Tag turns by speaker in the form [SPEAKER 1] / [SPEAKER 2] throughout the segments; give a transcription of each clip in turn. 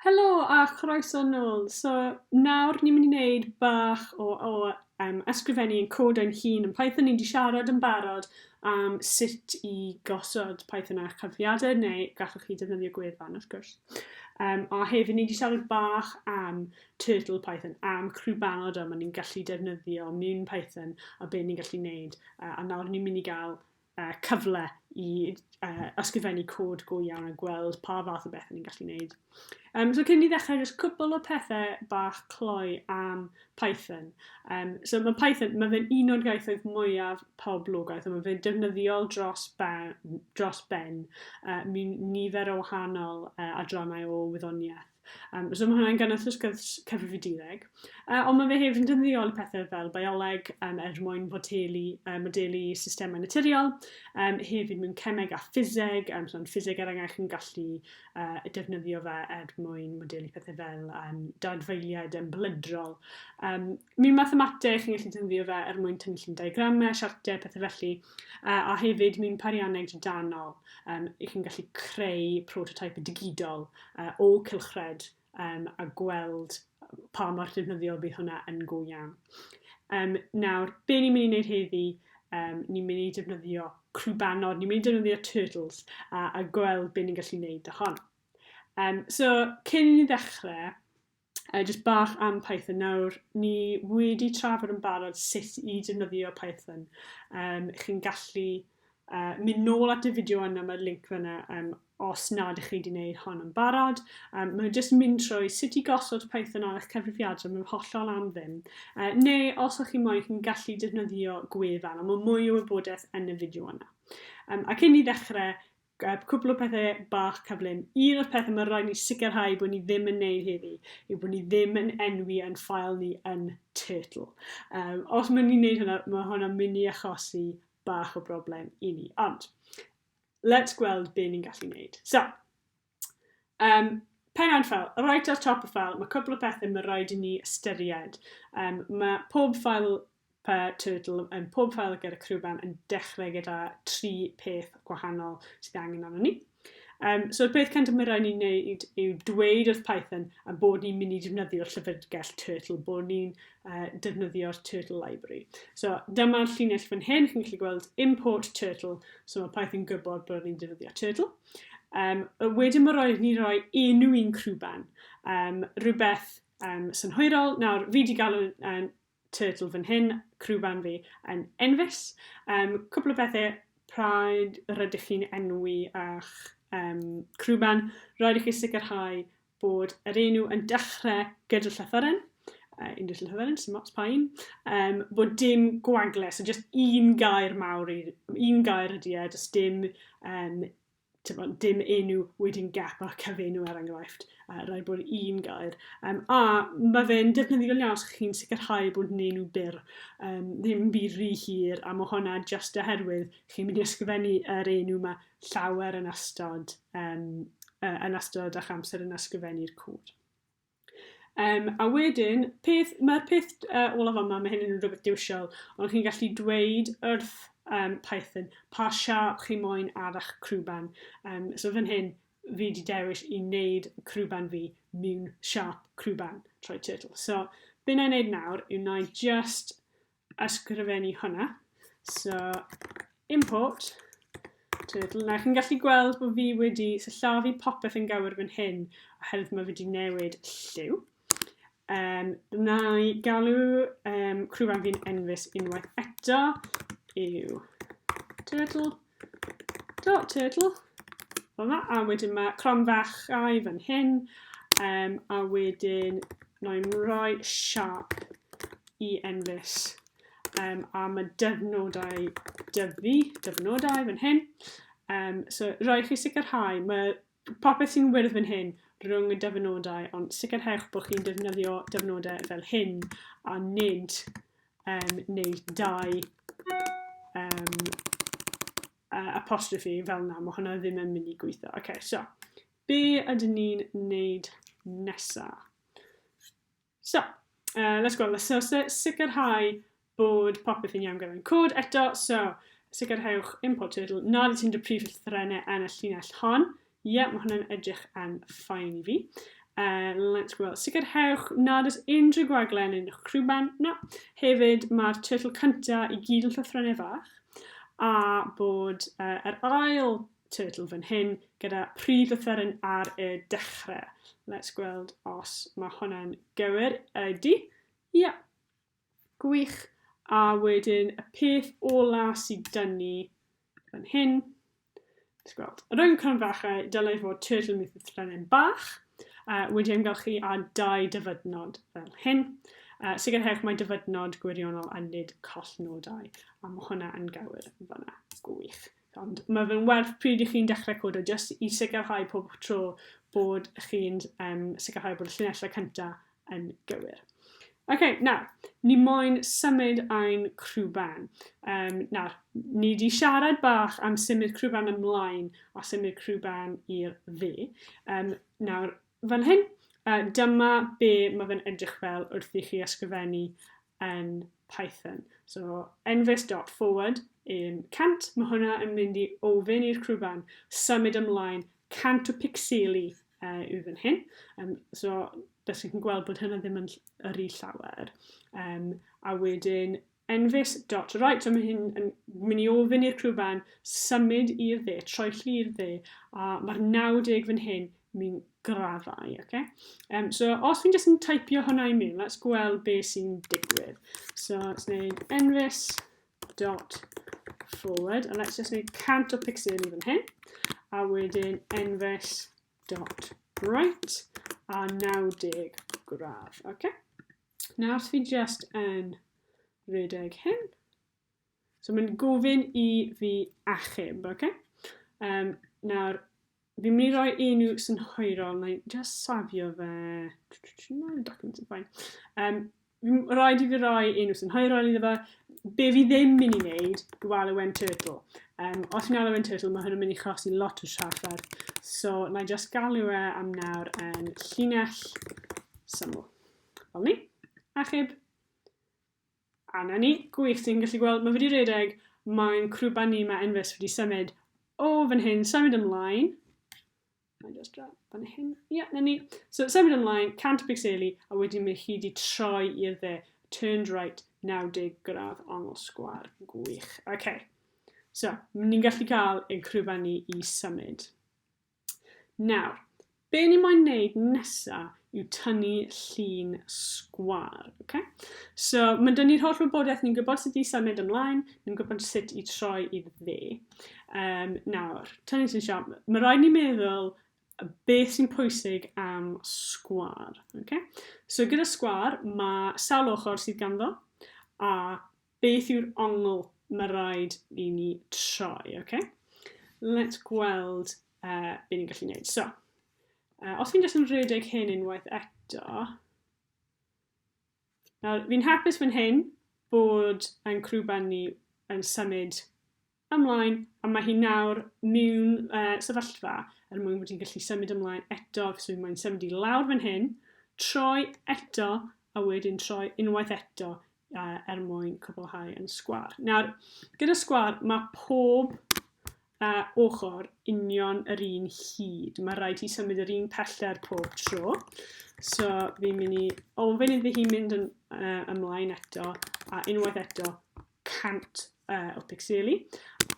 [SPEAKER 1] Helo a chroeso nôl. So, nawr ni'n mynd i wneud bach o, o um, ysgrifennu yn cod ein hun yn Python. Ni'n di siarad yn barod am sut i gosod Python ar cyfriadau, neu gallwch chi defnyddio gwefan, wrth gwrs. Um, a hefyd ni wedi siarad bach am Turtle Python, am crwbanod yma ni'n gallu defnyddio mewn Python a be ni'n gallu wneud. Uh, a nawr ni'n mynd i gael uh, cyfle i uh, ysgrifennu cod go iawn a gweld pa fath o bethau ni'n gallu gwneud. Um, so cyn i ni ddechrau, jyst cwbl o pethau bach cloi am Python. Um, so mae Python, mae fe'n un o'r gaethoedd mwyaf poblogaeth, a mae fe'n defnyddiol dros ben, dros ben uh, nifer o wahanol uh, adrannau o wyddoniaeth. Um, so mae hwnna'n gynnwys y sgwrs cyfrifiadureg. Uh, ond mae fe hefyd yn dyndiol i pethau fel bioleg um, er mwyn fodelu, um, modelu systemau naturiol, um, hefyd mewn cemeg a ffiseg, um, so yn ffiseg er enghraifft yn gallu uh, defnyddio fe er mwyn modelu pethau fel um, dadfeiliad yn blydrol. Um, mewn mathemateg, chi'n gallu defnyddio fe er mwyn tynnu llun diagramau, siartiau, pethau felly. Uh, a hefyd, mi'n parianneg drydanol, um, i chi'n gallu creu prototype digidol uh, o cylchred um, a gweld pa mor defnyddiol bydd hwnna yn go iawn. Um, nawr, be ni'n mynd i wneud heddi, um, ni'n mynd i defnyddio crwbanod, ni'n mynd i defnyddio turtles a, a gweld be ni'n gallu wneud â hon. Um, so, cyn i ni ddechrau, Yy jyst bach am Python nawr. Ni wedi trafod yn barod sut i defnyddio Python. Yym chi'n gallu yy mynd nôl at y fideo yna, mae'r link fyna yym os nad ych chi wedi gwneud hon yn barod. Yym mae jyst mynd trwy sut i gosod Python ar eich cyfrifiadur, mae'n hollol am ddim. Yy neu os o'ch chi moyn chi'n gallu defnyddio gwefan, ond mae mwy o wybodaeth yn y fideo yna. Yym ac cyn i ni ddechrau, Gad cwpl o pethe bach cyflym. Un o'r pethe ma' raid ni sicrhau bod ni ddim yn neud heddi yw bod ni ddim yn enwi ein ffael ni yn Turtle. Yym, os ma' ni'n neud hwnna, ma' hwnna'n mynd i achosi bach o broblem i ni. Ond, let's gweld be ni'n gallu neud. So, um, pen ein ffael, right ar top y ffael, mae cwpl o pethau mae rhaid i ni ystyried. Um, mae pob ffael Pa Turtle yn pob ffael ger y crwban yn dechrau gyda tri peth gwahanol sydd ei angen arnon ni. Um, so y peth cyntaf mae rhaid ni'n gwneud yw dweud wrth Python a bod ni'n mynd i defnyddio'r llyfrgell Turtle, bod ni'n uh, defnyddio'r Turtle Library. So dyma'r llinell fan hyn, chi'n gallu gweld import Turtle, so mae Python gwybod bod ni'n defnyddio Turtle. Um, wedyn mae rhaid ni roi enw i'n crwban, um, rhywbeth um, synhwyrol. Nawr, fi wedi galw um, Turtle fan hyn, criw band fi yn enfys. Um, cwpl o bethau pryd rydych chi'n enwi a'ch um, criw band, rhaid i chi sicrhau bod yr enw yn dechrau gyda llythyren, uh, un dys llythyren, sy'n mots pain, um, bod dim gwagle, so just un gair mawr, un gair ydy e, just dim um, tibod, dim enw wedyn gap a cyfenw er enghraifft, uh, rhaid bod un gair. Um, a mae fe'n defnyddiol iawn os chi'n sicrhau bod yn enw byr, um, ddim byd rhy hir, a mae hwnna just oherwydd chi'n mynd i ysgrifennu yr enw mae llawer yn ystod, um, uh, yn ystod a'ch amser yn ysgrifennu'r cwd. Yym, a wedyn, peth, mae'r peth uh, olaf yma, mae hyn yn rhywbeth diwisiol, ond chi'n gallu dweud wrth um, Python pa siap chi moyn ar eich crwban. Um, so fan hyn, fi wedi dewis i wneud crwban fi mewn siap crwban, trwy turtle. So, be na i wneud nawr yw na i just ysgrifennu hwnna. So, import turtle. Nawr, chi'n gallu gweld bod fi wedi syllafu popeth yn gywir fan hyn, oherwydd mae wedi newid lliw. Um, na i galw um, crwfan fi'n enfys unwaith eto yw turtle. Dot turtle. Fel yna, a wedyn mae cron fach ai fan hyn, um, a wedyn mae'n rhoi siap i enfys. Um, a mae dyfnodau dyfu, dyfnodau fan hyn. Um, so, roi chi sicrhau, mae Popeth sy'n wyrdd fan hyn rhwng y dyfynodau, ond sicrhewch bod chi'n defnyddio dyfynodau fel hyn a nid um, neu dau um, uh, apostrophe fel yna. Mae hwnna ddim yn mynd i gweithio. Oce, okay, so, be ydyn ni'n neud nesaf? So, uh, let's go. Let's so, so, sicrhau bod popeth yn iawn gyda'n cod eto. So, sicrhewch import turtle nad ydy ti'n dy prif llythrenau yn y llinell hon. Ie, yeah, mae hwnna'n edrych yn ffain i fi. Uh, let's go. Sicrhewch nad oes unrhyw gwaglen yn eich crwban. Na. Hefyd, mae'r turtle cyntaf i gyd yn llythrenau fach a bod uh, yr ail Turtle fan hyn gyda prif offeryn ar y dechrau. Let's gweld os mae hwnna'n gywir. Ydy. Ie. Yeah. Gwych. A wedyn y peth ola sydd dyn ni fan hyn. Let's gweld. Yr oen cron fachau, dylai fod turtle myth y trenin bach. Uh, wedi ymgylchu a dau dyfydnod fel hyn. Uh, sicrhewch mae dyfydnod gwirionol a nid collnodau. A mae hwnna yn gywir fanna. Gwych. Ond mae fe'n werth pryd i chi'n dechrau codo, jyst i sicrhau pob tro bod chi'n um, sicrhau bod y llinellau cyntaf yn gywir. Oce, okay, nawr, ni moyn symud ein crwban. Um, nawr, ni wedi siarad bach am symud crwban ymlaen a symud crwban i'r dde. Um, nawr, fan hyn, uh, dyma be mae fe'n edrych fel wrth i chi ysgrifennu yn Python. So, enfys.forward yn 100, mae hwnna yn mynd i ofyn i'r crwban symud ymlaen 100 o picseli uh, yw fan hyn. Um, so, beth chi'n gweld bod hynna ddim yn yr i llawer. Um, a wedyn, enfys.right, so mae hyn yn mynd i ofyn i'r crwban symud i'r dde, troelli i'r dde, a mae'r 90 fan hyn Mi'n graddau, oce. Okay. Um, so, os fi'n jyst yn typio hwnna i mewn, let's gweld be sy'n digwydd. So, let's neud envis dot forward, and let's just neud cant o pixel i fan hyn, a wedyn envis dot right, a 90 gradd, oce. Okay. Nawr, fi jyst yn redeg hyn, So mae'n gofyn i fi achub, oce? Okay? Um, nawr, fi'n mynd i roi unrhyw synhwyrol, mae'n just safio fe. No, document yn ffain. Um, fi'n rhaid i fi roi unrhyw synhwyrol iddo fe. Be fi ddim mynd i wneud yw alwen turtle. Um, os fi'n alwen turtle, mae hwnna'n mynd i chosi lot o trafferth. So, na i just galw e am nawr yn llinell syml. Fel ni. Achub. A 'na ni, gwych, ti'n gallu gweld, mae wedi redeg, mae'n crwban ni, mae Enfys wedi symud o fan hyn, symud ymlaen. Mae'n just dra fan hyn. Ie, yeah, na ni. So, symud ymlaen, 100 pixeli, a wedyn mae hi wedi troi i'r dde. Turned right, 90 gradd ongl sgwar. Gwych. OK. So, ni'n gallu cael ein crwban ni i symud. Nawr, be ni moyn neud nesa yw tynnu llun sgwâr. Okay? So, mae'n dynnu ni'r holl wybodaeth, ni'n gwybod sut i symud ymlaen, ni'n gwybod sut i troi i dde. Um, nawr, tynnu sy'n siarad, mae rhaid ni meddwl beth sy'n pwysig am sgwar. Okay? So gyda sgwar, mae sawl ochr sydd ganddo, a Beth yw'r ongl ma raid i ni troi? Ok, let's gweld uh, be ni'n gallu gwneud. So, uh, os fi'n just yn rhedeg hyn unwaith eto, nawr fi'n hapus fan hyn bod yn crwban ni yn symud ymlaen, a mae hi nawr mewn uh, sefyllfa er mwyn bod hi'n gallu symud ymlaen eto, felly mae'n symud i lawr fan hyn, troi eto, a wedyn troi unwaith eto uh, er mwyn cwblhau yn sgwar. Nawr, gyda sgwar, mae pob uh, ochr union yr un hyd. Mae rhaid i symud yr un pellter pob tro. So, fi'n mynd i ofyn iddi hi mynd yn, uh, ymlaen eto, a unwaith eto, cant uh, o pixeli,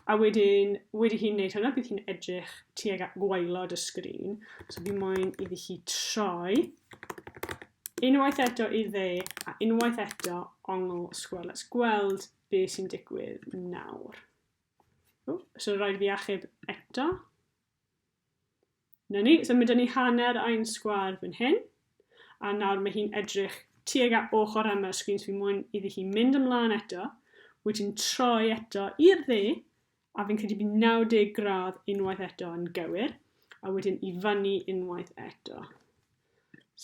[SPEAKER 1] a wedyn, wedi hi'n neud hwnna, bydd hi'n edrych tuag at gwaelod y sgrin. So fi moyn iddi hi troi unwaith eto i dde, a unwaith eto ongl sgwel. Let's gweld be sy'n digwydd nawr. O, so rhaid fi achub eto. 'Na ni, so mae 'da ni hanner ein sgwâr fan hyn, a nawr mae hi'n edrych tuag at ochr yma y sgrin, so fi'n mwyn iddi hi mynd ymlaen eto, wedyn troi eto i'r dde, a fi'n credu bydd 90 gradd unwaith eto yn gywir, a wedyn i fyny unwaith eto.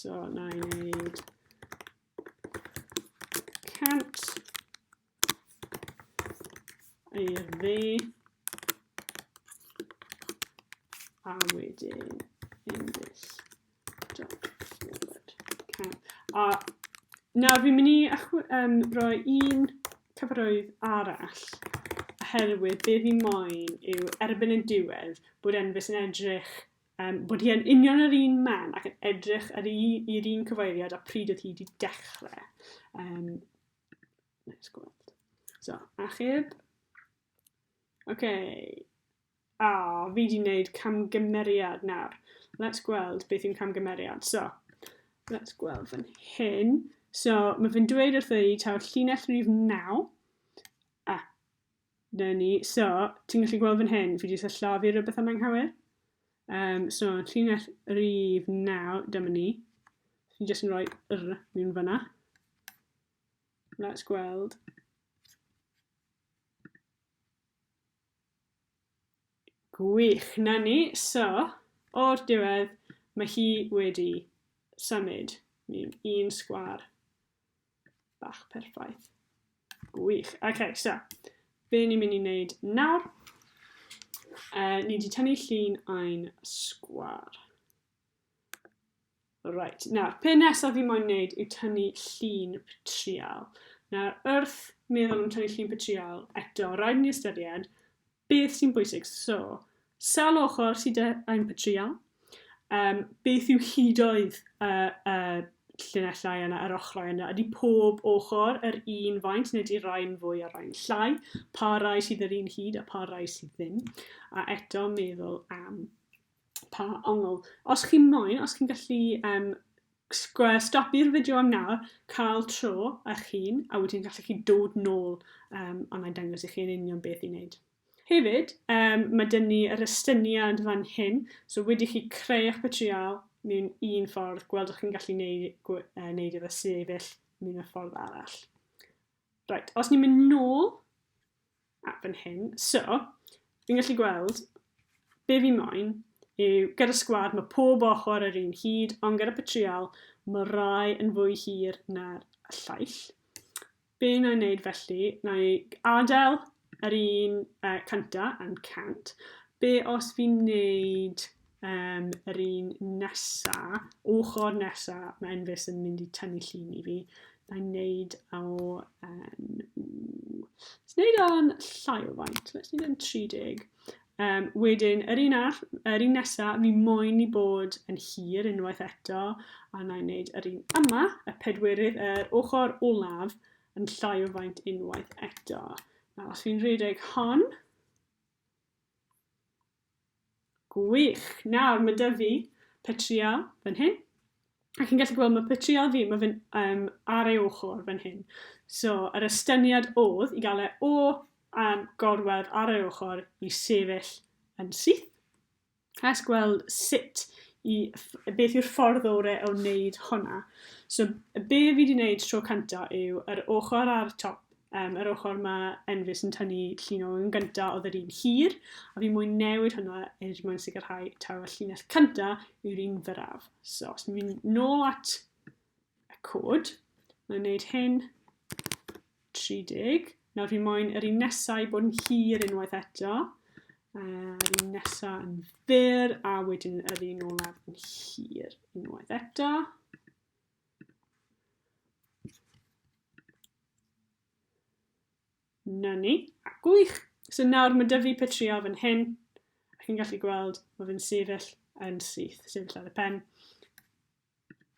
[SPEAKER 1] So, na i wneud 100, I'r dde. A wedyn in this dot forward. Okay. A nawr fi'n mynd i um, roi un cyfarwydd arall oherwydd be fi moyn yw erbyn y diwedd bod Enfys yn edrych um, bod hi yn union yr un man ac yn edrych i'r un cyfeiriad a pryd oedd hi wedi dechrau. Um, Nice gweld. So, achub. Oce. Okay. A, oh, fi di wneud camgymeriad nawr. Let's gweld beth yw'n camgymeriad. So, let's gweld fan hyn. So, mae fe'n dweud wrtho i taw llinell rhif 9. A, 'Na ni. So, ti'n gallu gweld fan hyn, fi 'di sillafu rhywbeth am anghywir. Um, so, llinell rif 9, dyma ni. Fi'n jyst yn rhoi r mewn fyna. Let's gweld. Gwych, na ni. So, o'r diwedd, mae hi wedi symud mewn un sgwar. Bach perffaith. Gwych. OK, so, be ni'n mynd i wneud nawr? Uh, ni wedi tynnu llun ein sgwar. Right, nawr, pe nesaf fi moyn wneud yw tynnu llun petrial. Nawr, wrth meddwl am tynnu llun petrial, eto, rhaid ni ystyried Beth sy'n bwysig? So, sawl ochr sydd 'da ein patrïon? Um, beth yw hudoedd y uh, uh, llinellau yna, yr ochrau yna? Ydy pob ochr yr un faint neu ydy rhai'n fwy a rhai'n llai? Pa rai sydd yr un hyd a pa rai sydd ddim? A eto meddwl am Pa ongl? Os chi moyn, os chi'n gallu um, stopio'r fideo am nawr, cael tro eich hun, a wedyn gallu chi dod nôl um, a mae'n dangos i chi yn union beth i wneud. Hefyd, um, mae dyn ni yr estyniad fan hyn, so wedi chi creu eich material mewn un ffordd, gweld o'ch chi'n gallu neud, uh, neud efo sefyll mewn y ffordd arall. Reit, os ni'n mynd nôl at fan hyn, so, fi'n gallu gweld be fi moyn yw gyda sgwad mae pob ochr yr un hyd, ond gyda patrial mae rai yn fwy hir na'r llaill. Be na i wneud felly, na i adael Yr un uh, cynta yn cant. Be os fi'n neud um, yr un nesa, ochr nesa, mae Enfys yn mynd i tynnu llun i fi. Na'n neud o... Um, Let's neud o'n llai o faint. Let's neud o'n 30. Um, wedyn, yr un all, yr un nesa, mi moyn i bod yn hir unwaith eto, a na i wneud yr un yma, y pedwerydd, yr ochr olaf, yn llai o faint unwaith eto. Nawr, os fi'n rhedeg hon, gwych. Nawr, mae dy fi petrial fan hyn, a chi'n gallu gweld mae petrial fi, mae fe'n um, ar ei ochr fan hyn. So, yr estyniad oedd i gael e o um, gorwedd ar ei ochr i sefyll yn syth. Cais gweld sut i... beth yw'r ffordd orau o wneud hwnna. So, be fi wedi wneud tro cynta yw yr ochr ar top, um, yr ochr mae Enfys yn tynnu llun o yn gynta oedd yr un hir, a fi mwyn newid hwnna er mwyn sicrhau taw y llinell cynta yw'r un fyraf. So, os ni'n mynd nôl at y cod. Mae'n gwneud hyn 30. Nawr fi moyn yr un nesau bod yn hir unwaith eto. Yr un nesau yn fyr a wedyn yr un olaf yn hir unwaith eto. Na ni, a gwych. So nawr mae dyfu petrio fan hyn. Ac yn gallu gweld mae fe'n sefyll yn syth, sefyll ar y pen.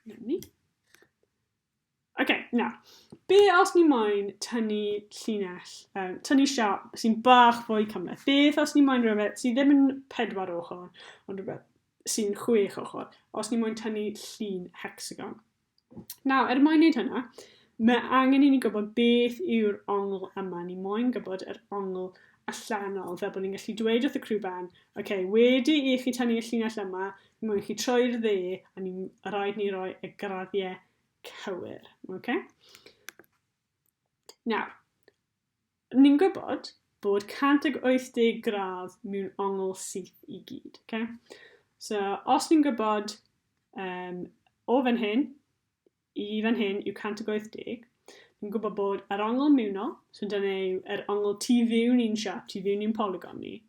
[SPEAKER 1] Nawn ni. OK, na. Be os ni moyn tynnu llinell, um, tynnu siap sy'n bach fwy cymleth? Beth os ni moyn rhywbeth sydd ddim yn pedwar ochr, ond rhywbeth sy'n chwech ochr, os ni moyn tynnu llun hexagon? Nawr, er mwyn wneud hynna, mae angen i ni gwybod beth yw'r ongl yma. Ni moyn gwybod yr ongl allanol, fel bod ni'n gallu dweud wrth y crew band, OK, wedi i chi tynnu y llinell yma, Mae chi troi'r dde, a ni rhaid ni roi y graddiau cywir. Okay? Nawr, ni'n gwybod bod 180 gradd mewn ongl syth i gyd. Okay? So, os ni'n gwybod um, o fan hyn i fan hyn yw 180. Ni'n gwybod bod yr ongl miwno, so dyna yw yr ongl tu fiwn i'n siap, tu fiwn i'n polygon ni,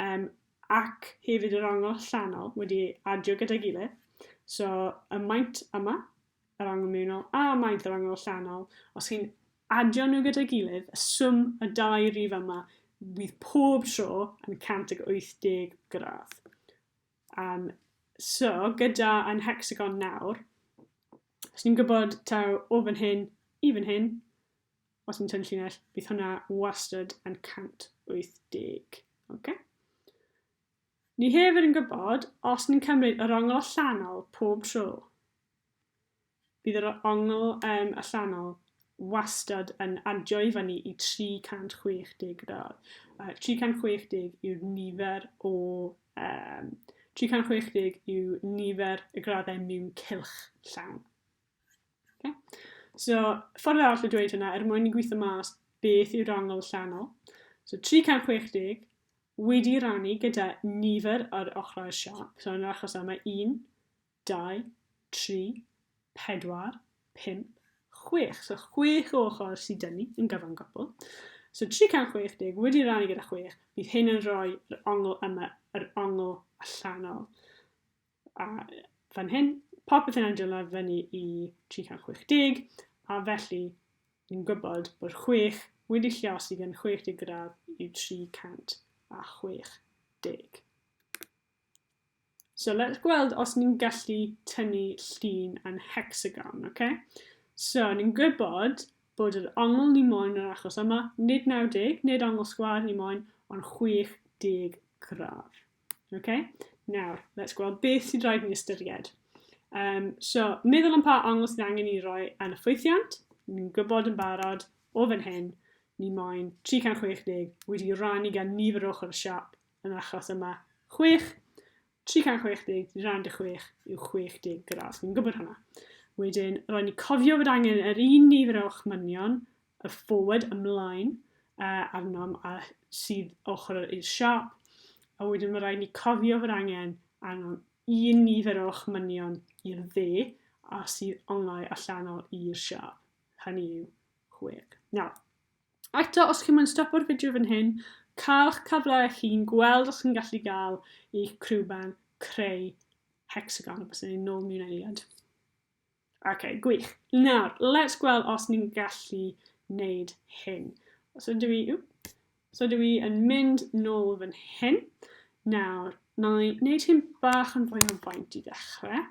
[SPEAKER 1] um, ac hefyd yr ongl allanol wedi adio gyda'i gilydd. So y maint yma, yr ongl miwno, a maint yr ongl allanol, os chi'n adio nhw gyda'i gilydd, y swm y dau rif yma, fydd pob tro yn 180 gradd. Um, so, gyda yn hexagon nawr, os ni'n gwybod taw o fan hyn i fan hyn, os ni'n tynnu llinell, bydd hwnna wastad yn 180. Okay? Ni hefyd yn gwybod os ni'n cymryd yr ongl allanol pob tro. Bydd yr ongl um, allanol wastad yn adio i fyny i 360 gradd. Uh, 360 yw'r nifer o... Um, 360 yw nifer y graddau mewn cylch llawn. Okay? So, ffordd arall o dweud hynna, er mwyn i gweithio mas beth yw'r angl allanol. So, 360 wedi rannu gyda nifer ar ochrau'r siop. So, yn yr achos yma, 1, dau, tri, pedwar, pump, chwech. So chwech o ochr sydd dyn ni yn gyfan gwbl. So 360 wedi rannu gyda chwech, bydd hyn yn rhoi yr ongl yma, yr ongl allanol. A fan hyn, popeth yn edrych lawr fyny i 360, a felly ni'n gwybod bod chwech wedi lliosi gan 60 gradd i 360. So let's gweld os ni'n gallu tynnu llun yn hexagon, oce? Okay? So ni'n gwybod bod yr ongl ni moyn yn yr achos yma, nid 90, nid ongl sgwar ni moyn, ond 60 gradd. Oce? Okay? Nawr, let's gweld beth sydd rhaid ni ystyried. Um, so, meddwl am pa ongl sydd angen i roi yn y ffwythiant. Ni'n gwybod yn barod o fan hyn, ni moyn 360 wedi rannu gan nifer ochr y siap yn yr achos yma. 6, 360, rand y 6 yw 60 gradd. Fi'n gwybod hwnna. Wedyn, roedd ni cofio fod angen yr un nifer o chmynion, y forward ymlaen, uh, arnom a sydd ochr i'r siop. A wedyn mae rhaid ni cofio fod angen arnom un nifer o chmynion i'r dde a sydd onglau allanol i'r siop. Hynny yw chwech. Nawr, Eto, os chi'n moyn stopo'r fideo fan hyn, cael'ch cyfle eich hun, gweld os chi'n gallu gael eich crewben creu hecsagon, a bysen ni'n nôl miwn eiliad. Ok, gwych. Nawr, let's gweld os ni'n gallu wneud hyn. So dwi, so dwi yn mynd nôl fan hyn. Nawr, na i wneud hyn bach yn fwy o faint i ddechrau.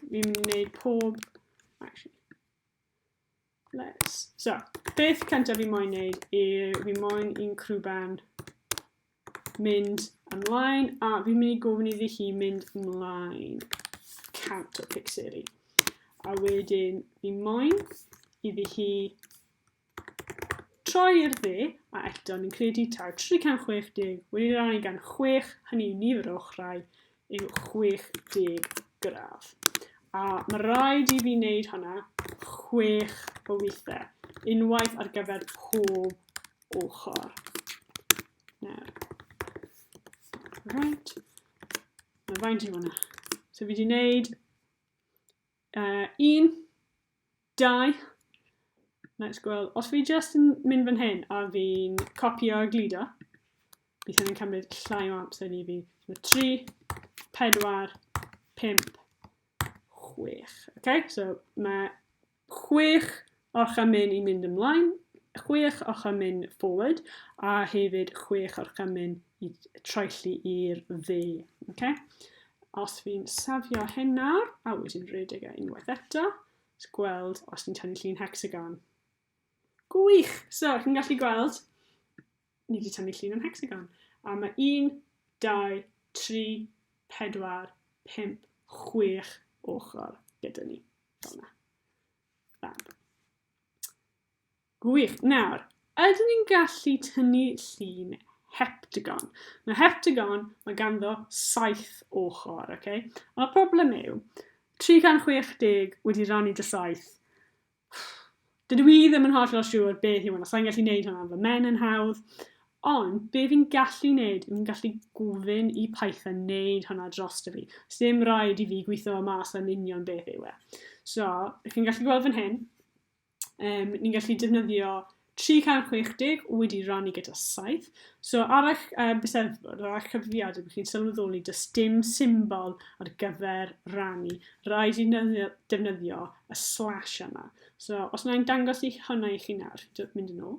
[SPEAKER 1] Fi'n mynd i wneud pob... Actually, Nice. So, beth cyntaf fi moyn neud yw fi moyn i'n crwban mynd ymlaen a fi'n mynd i gofyn iddi hi mynd ymlaen cant o pixeri. A wedyn fi moyn iddi hi troi i'r dde a eto ni'n credu taw 360 wedi rannu gan 6 hynny yw nifer o ochrau yw 60 gradd. A mae rhaid i fi wneud hwnna chwech o weithiau, unwaith ar gyfer pob ochr. Nawr. Right. Mae faint i hwnna. So fi wedi wneud Uh, un, dau, let's gweld, os fi just yn mynd fan hyn a fi'n copio a glido, bydd hynny'n cymryd llai o amser ni fi. So 3, 4, 5, 6. Okay? So mae 6 Orchard Myn i mynd ymlaen, chwech Orchard Myn forward, a hefyd chwech Orchard Myn i troelli i'r dde. Okay? Os fi'n safio hyn nawr, a wedyn rhedeg e unwaith eto, gweld os ni'n tynnu llun hexagon. Gwych! So, chi'n gallu gweld, ni wedi tynnu llun yn hexagon. A mae 1, 2, 3, 4, 5, 6 ochr gyda ni. Fel yna. Fab. Gwych. Nawr, ydyn ni'n gallu tynnu llun heptagon? Mae heptagon, mae ganddo saith ochr, oce? Okay? Ond y problem yw, 360 wedi rannu dy saith. Dydw i ddim yn holl o siŵr beth yw hwnna, sa'n gallu neud hwnna, fy men yn hawdd, Ond be fi'n gallu wneud yw fi'n gallu gofyn i Python wneud hwnna drosto fi. Sdim rhaid i fi gweithio mas yn union beth yw e. So, ych chi'n gallu gweld fan hyn, um, ni'n gallu defnyddio 360 wedi rannu gyda 7. So ar eich uh, byseddfod, ar eich cyfrifiad, ydych chi'n sylweddoli does dim symbol ar gyfer rannu. Rhaid i defnyddio y slash yma. So os yna'n dangos i hwnna i chi nawr, mynd yn ôl.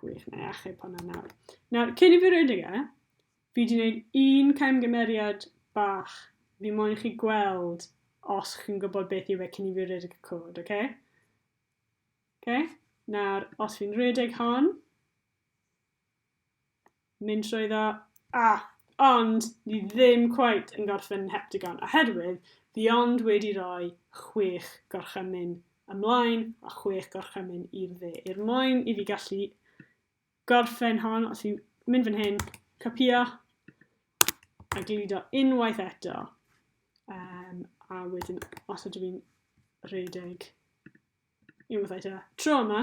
[SPEAKER 1] Gwych, na i achub hwnna nawr. Nawr, cyn i fi redeg e, fi wedi gwneud un camgymeriad bach. Fi moyn i chi gweld os chi'n gwybod beth yw e cyn i fi redeg y cod, oce? Okay? Oce? Okay? Nawr, os fi'n redeg hon, mynd trwy ddo. A, ond, ni ddim cweit yn gorffen yn Heptagon oherwydd fi ond wedi rhoi chwech gorchymyn ymlaen a chwech gorchymyn i'r dde. Er mwyn i fi gallu gorffen hon, os fi'n mynd fan hyn, copio a gludo unwaith eto. Um, a wedyn, os ydw i'n rhedeg unwaith eto, tro yma,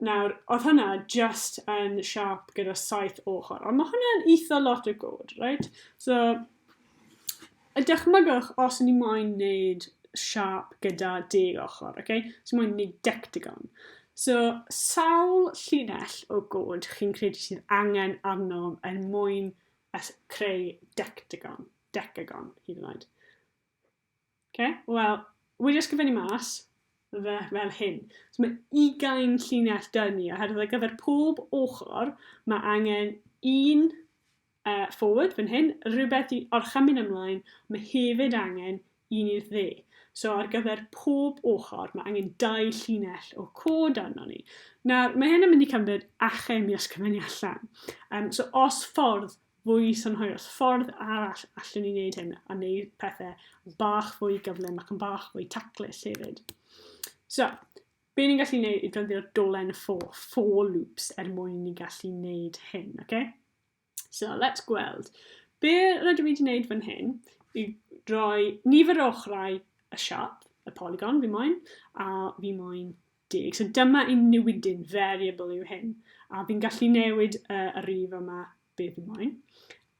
[SPEAKER 1] Nawr, oedd hwnna just yn siap gyda saith ochr, ond mae hwnna'n eitha lot o god, right? So, y dychmygwch os ni moyn wneud siap gyda deg ochr, oce? Okay? So moyn wneud dectagon. So, sawl llinell o god chi'n credu sydd angen arnom yn mwyn creu dectagon, decagon, hyd yn oed. Oce, wel, wedi ysgrifennu mas fe fel hyn. So mae ugain llinell dyn ni, oherwydd ar gyfer pob ochr mae angen un uh, forward fan hyn, rhywbeth i orchymyn ymlaen, mae hefyd angen un i'r dde. So ar gyfer pob ochr mae angen dau llinell o cod arno ni. Nawr, mae hyn yn mynd i cymryd achem i ysgrifennu allan. Um, so os ffordd fwy synhwyrol. Os ffordd arall allwn ni wneud hyn a wneud pethau yn bach fwy gyflym ac yn bach fwy taclus hefyd. So, be ni'n gallu wneud i ddefnyddio dolen for, for loops er mwyn ni gallu wneud hyn, oce? Okay? So, let's gweld. Be rydw i wedi wneud fan hyn i droi nifer o ochrau y siap, y polygon fi moyn, a fi moyn deg. So dyma ein newidyn variable yw hyn, a fi'n gallu newid y, y rif yma be fi moyn.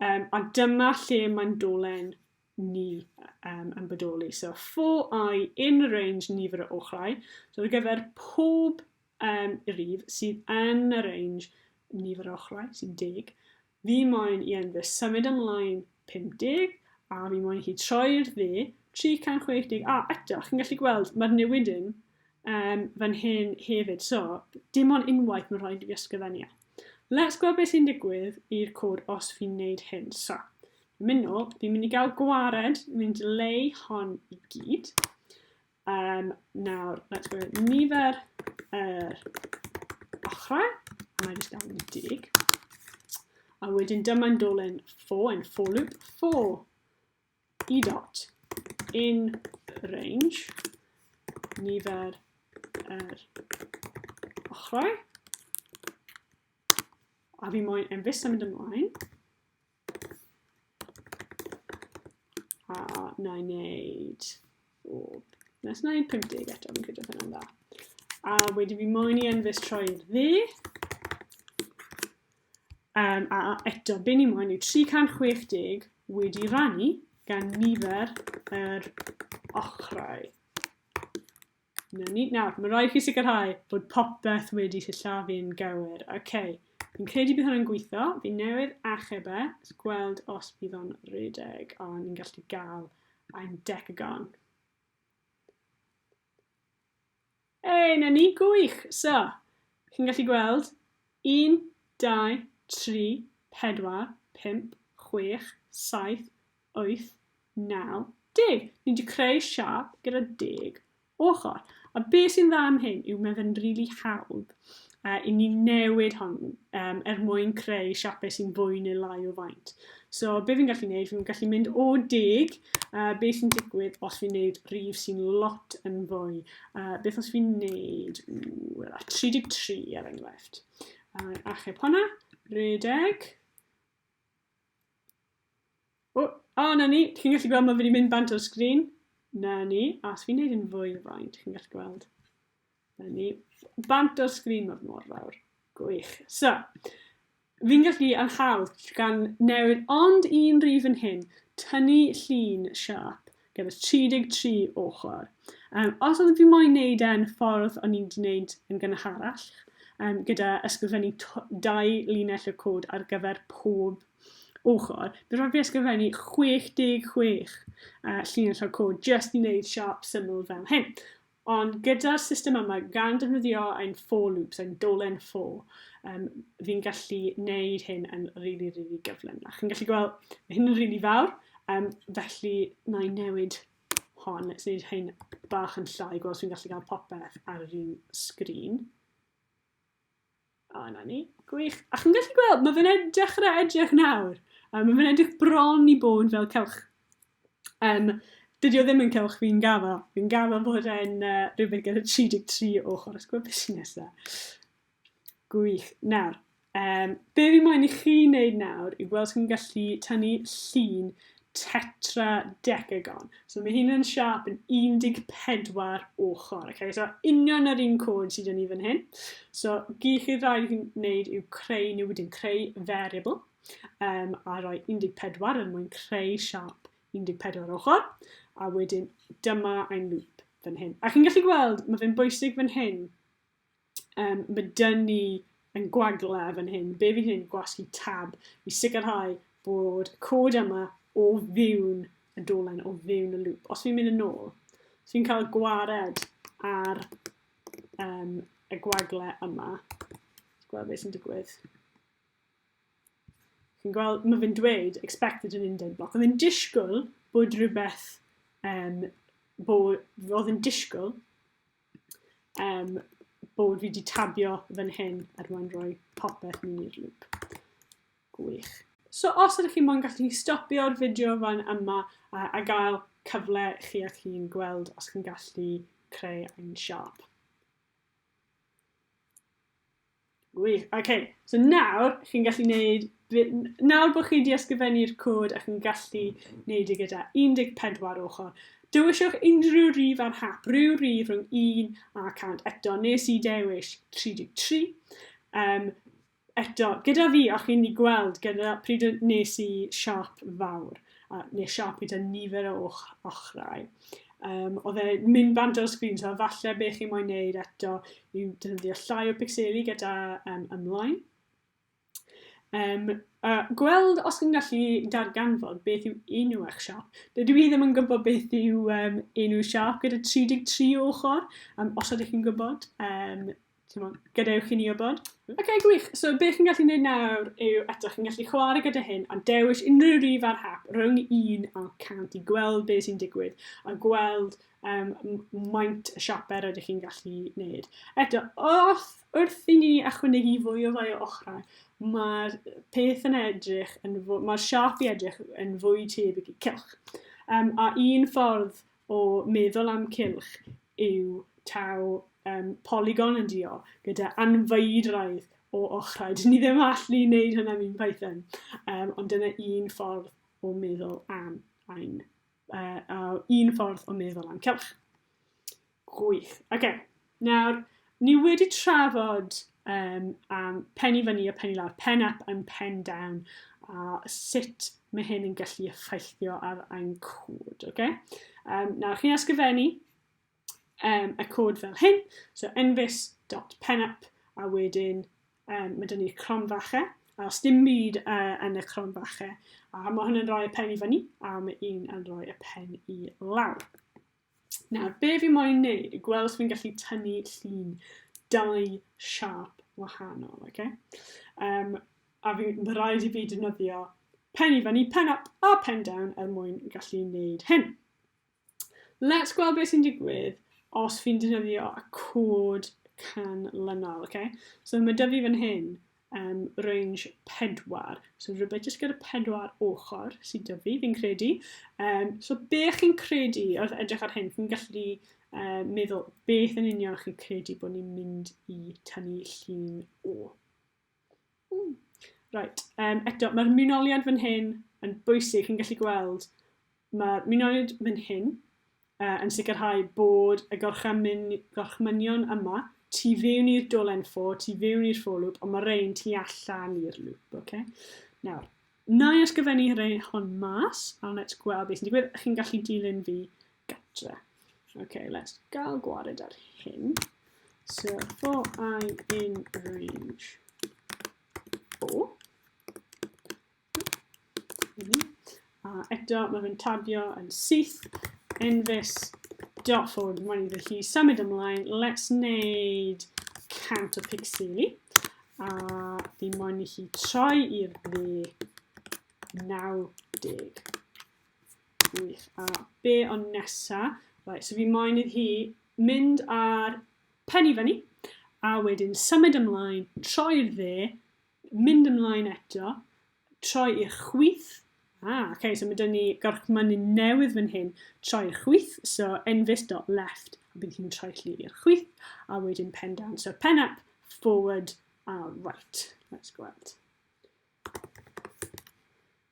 [SPEAKER 1] Um, a dyma lle mae'n dolen ni um, yn bodoli. So for i in y range nifer o ochrau, so ar gyfer pob um, rif sydd yn y range nifer o ochrau, sy'n deg, Fi moyn i Enver symud ymlaen 50, a fi moyn i hi troi i'r dde 360, a eto, chi'n gallu gweld, mae'r newidyn um, fan hyn hefyd, so dim ond unwaith mae'n rhaid i fi ysgrifennu e. Let's gweld beth sy'n digwydd i'r cod os fi'n neud hyn. So, fi'n mynd nôl, fi'n mynd i gael gwared, fi'n mynd i leu hon i gyd. Um, nawr, let's go nifer yr ochrau, a mae'n just gael dig. A wedyn dyma'n dolen for yn for loop, for e dot in range, nifer yr ochrau, a fi moyn yn fus yn mynd ymlaen, A na i wneud... O, nes na i 50 eto, fi'n credu hynny'n dda. A wedyn fi moyn i enfys troi ddi. Um, a eto, be ni moyn yw 360 wedi rannu gan nifer yr ochrau. 'Na ni. Nawr, mae rhaid chi sicrhau bod popeth wedi sillafu'n gywir. OK. Fi'n credu bydd hwnna'n gweithio. Fi newydd achub e. Let's gweld os bydd o'n rhedeg. O, oh, ni'n gallu gael ein decagon. Ei, na ni, gwych! So, chi'n gallu gweld 1, 2, 3, 4, 5, 6, 7, 8, 9, 10. Ni wedi creu siap gyda 10 ochr. A be sy'n dda am hyn yw mae fe'n rili really hawdd uh, i ni newid hon um, er mwyn creu siapau sy'n fwy neu lai o faint. So be fi'n gallu gwneud, fi'n gallu mynd o deg, uh, be sy'n digwydd os fi'n gwneud rif sy'n lot yn fwy. Uh, beth os fi'n gwneud 33 er enghraifft. Uh, achub hwnna, redeg, O, a, 'na ni. Chi'n gallu gweld ma' fe 'di mynd bant o'r sgrin? 'Na ni. A os fi'n neud e'n fwy o faint, chi'n gallu gweld? 'Na ni. Bant o'r sgrin, ma' fe mor fawr. Gwych. So, fi'n gallu ar hawl gan newid ond un rif yn hyn, tynnu llun siâp Gen i 33 ochr. Um, os oedd fi moyn neud e yn y ffordd o'n i'n di neud yn gynharach, um, gyda ysgrifennu dau linell o cod ar gyfer pob ochr, bydd rhaid fi ysgrifennu 66 uh, llinell o cod just i wneud siarp syml fel hyn. Ond gyda'r system yma, gan defnyddio ein for loops, ein dolen for, um, fi'n gallu neud hyn yn rili, really, rili really gyflym. A chi'n gallu gweld, mae hyn yn rili really fawr, um, felly na i newid hon, let's neud hyn bach yn llai, gweld os fi'n gallu cael popeth ar yr un sgrin. O, na ni. Gwych. A chi'n gallu gweld, mae fe'n dechrau edrych nawr. Um, mae fe'n edrych bron i bod fel cewch. Um, dydy o ddim yn cewch fi'n gafo. Fi'n gafo bod e'n uh, rhywbeth gyda 33 o chwrs gwybod beth sy'n nesaf. Gwych. Nawr, um, be fi moyn i chi wneud nawr yw gweld sy'n gallu tynnu llun tetradecagon. So mae hyn yn siap yn 14 ochr. Okay? So union yr un cod sydd yn ni fan hyn. So gyd chi rhaid i'n wneud yw creu nhw wedyn creu variable um, a rhoi 14 yn mwyn creu siap 14 ochr. A wedyn dyma ein loop fan hyn. A chi'n gallu gweld, mae fe'n bwysig fan hyn um, mae dyn ni yn gwagla fan hyn, be fi'n hyn gwasgu tab i sicrhau bod y cod yma o fiwn y dolen, o fiwn y lŵp. Os fi'n mynd yn ôl, os fi'n cael gwared ar um, y gwagle yma, gweld beth sy'n digwydd. Chi'n gweld, mae fe'n dweud expected an indent block. Oedd yn disgwyl bod rhywbeth, um, bod, oedd yn disgwyl um, bod fi wedi tabio fan hyn er mwyn rhoi popeth mewn i'r lŵp. Gwych. So os ydych chi'n mwyn gallu stopio'r fideo fan yma a, a gael cyfle chi a chi'n gweld os chi'n gallu creu ein siop. Wych, oce. Okay. So nawr, chi'n gallu neud... Nawr bod chi wedi ysgrifennu'r cod a chi'n gallu neud e gyda 14 ochr, dewiswch unrhyw rif ar hap, rhyw rif rhwng 1 a 100. Eto, nes i dewis 33. Um, eto, gyda fi, o'ch chi'n ei gweld gyda pryd nes i siop fawr. a nes i apio tua nifer o och- ochrau. Um, oedd e mynd bant o'r sgrin, so falle be chi moyn neud eto yw defnyddio llai o pixeli gyda um, ymlaen. Um, a gweld os chi'n gallu darganfod beth yw enw eich siop. Dydw i ddim yn gwybod beth yw um, enw siop gyda 33 ochr, um, os ydych chi'n gwybod. Um, Timo, gadewch i ni wybod. Oce, okay, gwych. So, beth chi'n gallu gwneud nawr yw eto, chi'n gallu chwarae gyda hyn, ond dewis unrhyw rif ar hap rhwng 1 a 100 i gweld beth sy'n digwydd a gweld um, maint y siaper ydych chi'n gallu gwneud. Eto, wrth, wrth i ni ychwanegu fwy o fai o ochrau, mae'r peth yn edrych, yn mae'r siap i edrych yn fwy tebyg i cilch. Um, a un ffordd o meddwl am cylch yw taw um, polygon yn dio gyda anfeidraidd o ochrau. Dyn ni ddim allu wneud hynna mewn Python, um, ond dyna un ffordd o meddwl am ein, uh, uh, un ffordd o meddwl am cylch. Gwych. Oce. Okay. Nawr, ni wedi trafod um, am pen i fyny a pen i lawr, pen up and pen down, a sut mae hyn yn gallu effeithio ar ein cod. Okay? Um, nawr, chi'n ysgrifennu um, y cod fel hyn, so envis.penup, a wedyn um, mae dyn ni cronfachau, a os dim byd uh, yn y cronfachau, a mae hwn yn rhoi y pen i fyny, a mae un yn rhoi y pen i lawr. Nawr, be fi moyn neud i gweld os fi'n gallu tynnu llun dau siap wahanol, oce? Okay? Um, a fi, mae rhaid i fi defnyddio pen i fyny, pen up a pen down er mwyn gallu neud hyn. Let's gweld beth sy'n digwydd os fi'n defnyddio y cod canlynol, okay? So mae dyfu fan hyn, um, range 4. So rhywbeth jyst gyda 4 ochr sydd dyfu, fi, fi'n credu. Um, so be chi'n credu, wrth edrych ar hyn, chi'n gallu uh, meddwl beth yn union chi'n credu bod ni'n mynd i tynnu llun o. Mm. Right, um, eto, mae'r mynoliad fan hyn yn bwysig, chi'n gallu gweld, mae'r mynoliad fan hyn yn sicrhau bod y gorchmynion yma tu fewn i'r dolen ffo, tu fewn i'r ffo lŵp, ond mae rhain tu allan i'r lŵp, okay? Nawr, na i ysgrifennu rhain hon mas, a let's gweld beth sy'n digwydd. Chi'n gallu dilyn fi gatre. Okay, let's gael gwared ar hyn. So, for i in range 4, A eto, mae fe'n tadio yn syth, enfys, dot forward, mae'n iddo hi symud ymlaen, let's wneud cant o pixeli, a fi moyn i hi troi i'r dde 90. Wych, a be o'n nesa? Right, so fi moyn iddo hi mynd ar pen i fyny, a wedyn symud ymlaen, troi'r dde, Mynd ymlaen eto, troi i'r chwith. Ah, oce, okay, so mae dyn ni gorchmynu newydd fan hyn. Troi i'r chwith, so enfus dot left, a bydd hi'n troi lli i'r chwith, a wedyn pen down. So pen up, forward, a right. Let's go out.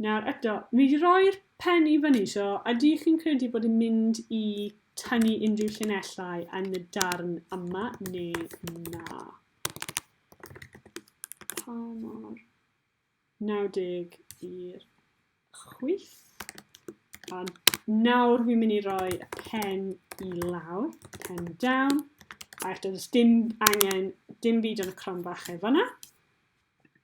[SPEAKER 1] Nawr eto, fi 'di rhoi'r pen i fyny, so ydych chi'n credu bod yn mynd i tynnu unrhyw llinellau yn y darn yma neu na? Pa mor 90 i'r chwyth? A nawr fi'n mynd i roi y pen i lawr, pen down, a eto does dim angen dim byd yn y cron bach efo na.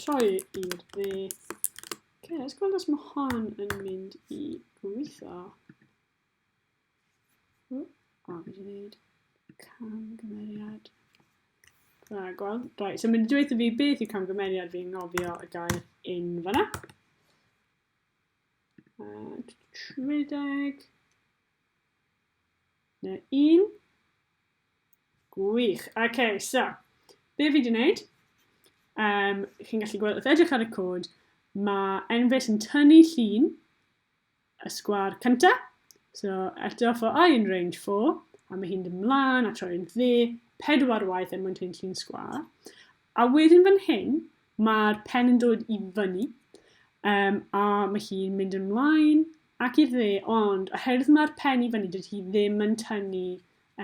[SPEAKER 1] Troi i'r dde. Ok, let's gweld os mae hon yn mynd i gweithio. O, fi wedi gwneud camgymeriad. Na, gweld. Right, so mae'n dweud i fi beth yw camgymeriad fi'n ngofio y gair in fanna. Uh, rhedeg. Neu un. Gwych. Oce, okay, so, be fi wedi gwneud, um, chi'n gallu gweld, wrth edrych ar y cod, mae Enves yn tynnu llun y sgwar cyntaf. So, eto for i yn range 4, a mae hi'n ymlaen a troi'n dde pedwar waith er mwyn tynnu llun sgwar. A wedyn fan hyn, mae'r pen yn dod i fyny, um, a mae hi'n mynd ymlaen Ac i'r dde, ond oherwydd mae'r pen i fyny, dydy hi ddim yn tynnu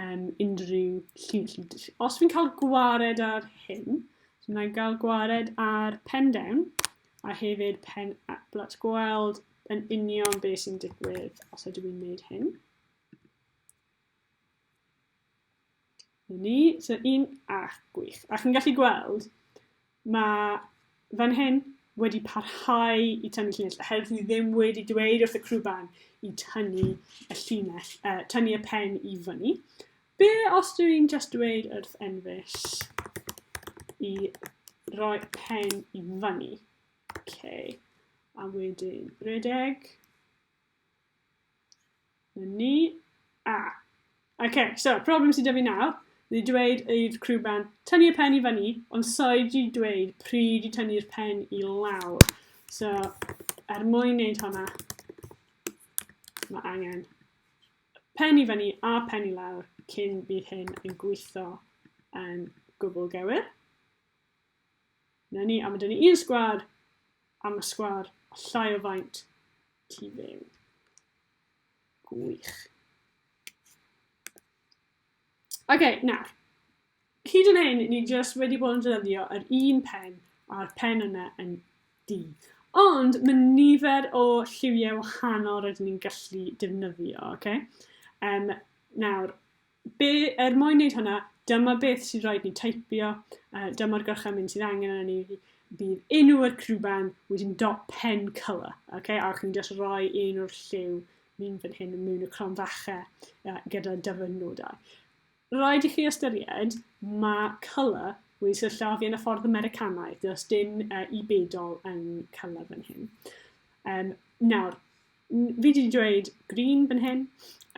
[SPEAKER 1] um, unrhyw lliw. Os fi'n cael gwared ar hyn, so mae'n cael gwared ar pen down, a hefyd pen up. Let's gweld yn union beth sy'n digwydd os ydw i'n gwneud hyn. Ni, so un, a, gwych. A chi'n gallu gweld, mae fan hyn wedi parhau i tynnu llinell, oherwydd ni ddim wedi dweud wrth y crwban i tynnu y llinell, uh, tynnu y pen i fyny. Be os dwi i'n just dweud wrth Enfys i roi pen i fyny? Okay. A wedyn, redeg. Ni. A. OK, so, problem sydd 'da fi nawr, ni wedi dweud i'r crwban tynnu y pen i fan i, ond soi wedi dweud pryd i tynnu'r pen i lawr. So, er mwyn wneud hwnna, mae angen pen i fyny a pen i lawr cyn bydd hyn yn gweithio yn gwbl gywir. 'Na ni, a ma' 'da ni un sgwâr, a ma' sgwâr a llai o faint tu fewn. Gwych. Oce, okay, nawr. Hyd yn hyn, ni jyst wedi bod yn defnyddio yr un pen a'r pen yna yn di. Ond mae nifer o lliwiau wahanol rydyn ni'n gallu defnyddio, oce? Okay? Um, nawr, Be, er mwyn wneud hwnna, dyma beth sydd rhaid ni teipio, uh, dyma'r gorchymyn sydd angen arno ni, bydd enw yr crwban wedyn dot pen colour, okay? a chi'n just rhoi un o'r lliw ni'n fan hyn mewn y crom fache uh, gyda dyfynodau. Rhaid i chi ystyried mae colour wedi syllafu yn y ffordd Americanaidd, does dim uh, i bedol yn colour fan hyn. Um, nawr, Fi wedi dweud green fan hyn,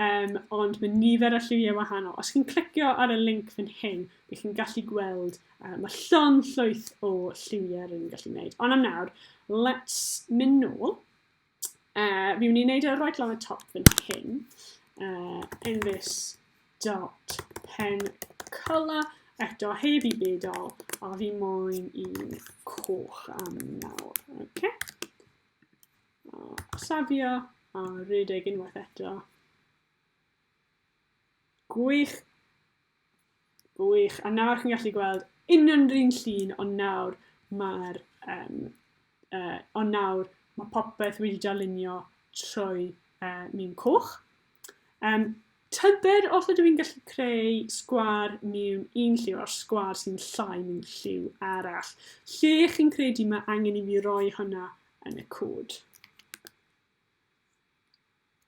[SPEAKER 1] um, ond mae nifer y lliwiau wahanol. Os chi'n clicio ar y link fan hyn, bych chi'n gallu gweld, uh, mae llon llwyth o lliwiau rydyn ni'n gallu gwneud. Ond am nawr, let's mynd nôl. Uh, fi wneud gwneud e right lan y top fan hyn, uh, in this dot pen colour, eto heb i byd ol, a fi moyn i'n coch am nawr. Okay? O, safio a rhedeg unwaith eto. Gwych. Gwych. A nawr chi'n gallu gweld union yr un llun, ond nawr mae'r... Um, uh, ond nawr mae popeth wedi darlunio trwy uh, miwn coch. Um, tybed os ydw i'n gallu creu sgwar miwn un lliw a'r sgwar sy'n llai miwn lliw arall. Lle chi'n credu mae angen i mi roi hwnna yn y cod.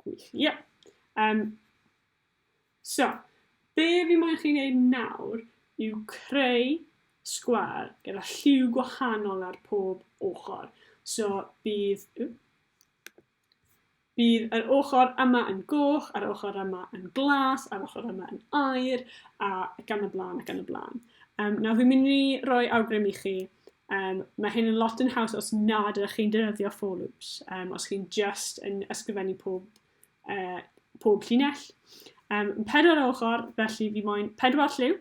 [SPEAKER 1] Gwych, ie. Yeah. Um, so, be fi moyn chi'n ei nawr yw creu sgwar gyda lliw gwahanol ar pob ochr. So bydd, Bydd yr ochr yma yn goch, a'r ochr yma yn glas, a'r ochr yma yn aer, a gan y blaen, a gan y blaen. Um, nawr, fi'n mynd i roi awgrym i chi. Um, mae hyn yn lot yn haws os nad ydych chi'n defnyddio for loops, um, os chi'n just yn ysgrifennu pob, uh, pob llinell. Um, pedwar ochr, felly fi moyn pedwar lliw.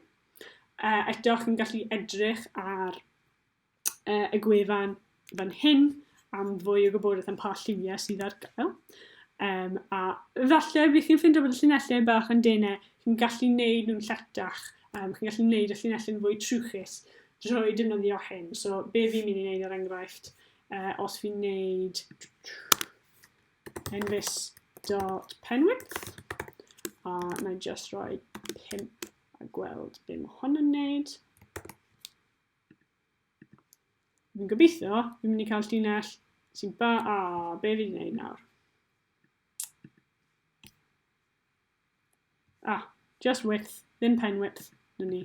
[SPEAKER 1] Uh, eto, chi'n gallu edrych ar uh, y gwefan fan hyn am fwy o gwybodaeth am pa lliwiau sydd ar gael. Um, a falle bydd chi'n ffindio bod y llinellau bach yn denau, chi'n gallu neud nhw'n lletach, um, chi'n gallu neud y llinellau yn fwy trwchus drwy defnyddio hyn. So be fi'n mynd i wneud ar er enghraifft, uh, os fi'n neud envis.penwidth, a uh, na just roi 5 a gweld be mae hwn yn neud. Fi'n gobeithio, fi'n mynd i cael llinell sy'n ba... A, be fi'n gwneud nawr? A, ah, just width, ddim pen width, na ni.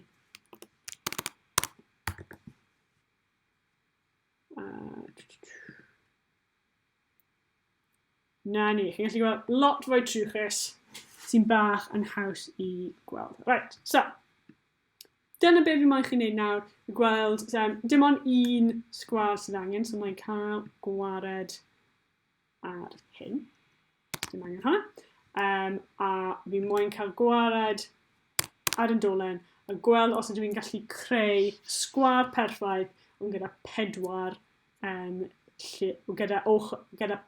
[SPEAKER 1] Na ni, chi'n gallu gweld lot fwy trwchus sy'n bach yn haws i gweld. Right, so, Dyna be fi moyn chi wneud nawr, i gweld, um, dim ond un sgwar sydd angen, so mae'n cael gwared ar hyn. Dim angen hwnna. Um, a fi moyn cael gwared ar yn dolen a gweld os ydw i'n gallu creu sgwar perffaith ond gyda pedwar um, lle, gyda, och, gyda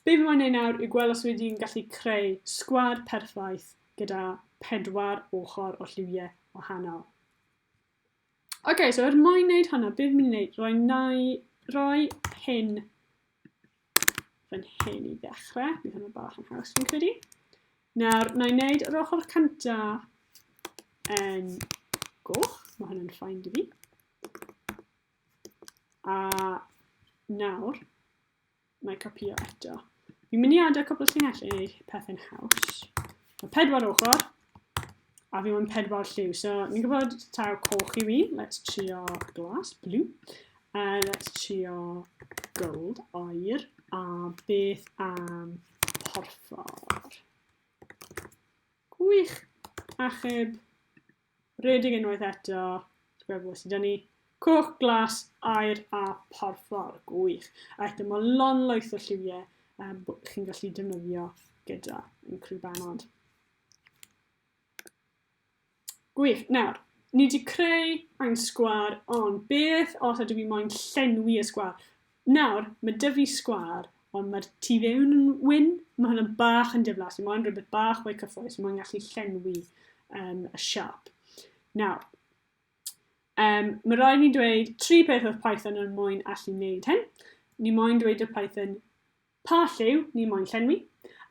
[SPEAKER 1] Be fi moyn neud nawr yw gwel' os wi 'di'n gallu creu sgwâr perffaith gyda pedwar ochor o lliwie wahanol. Oce so er mwyn neud hwnna be' fi myn' i neud roi nai roi hyn fan hyn i ddechre. Bydd hwnna bach yn haws fi'n credu. Nawr nai neud yr ochr cynta yn goch, ma' hwnna'n ffain 'da fi. A nawr, mae copio eto. Fi'n mynd i adael cwbl o llinell i wneud pethau'n haws. Mae pedwar ochr, a fi mewn pedwar lliw. So, ni'n gwybod taw coch i fi. Let's trio glas, blue. Uh, let's trio gold, oer. A beth am porffor? Gwych! Achub Redig unwaith eto. Gwefl sydd gen i. Coch, glas, air a porffor. Gwych. A eto mae lon loes o lliwiau um, chi'n gallu defnyddio gyda yn Crw Banod. Gwych. Nawr, ni wedi creu ein sgwar, ond beth os ydw i moyn llenwi y sgwar? Nawr, ma' 'da fi sgwâr, ond ma'r tu fewn yn wyn. Ma' hwnna bach yn diflas, fi moyn rhywbeth bach mwy cyffrous, fi moyn gallu llenwi um, y siâp. Nawr, um, mae rhaid ni dweud tri peth oedd Python yn moyn allu wneud hyn. Ni moyn dweud y Python Pa lliw ni moyn llenwi?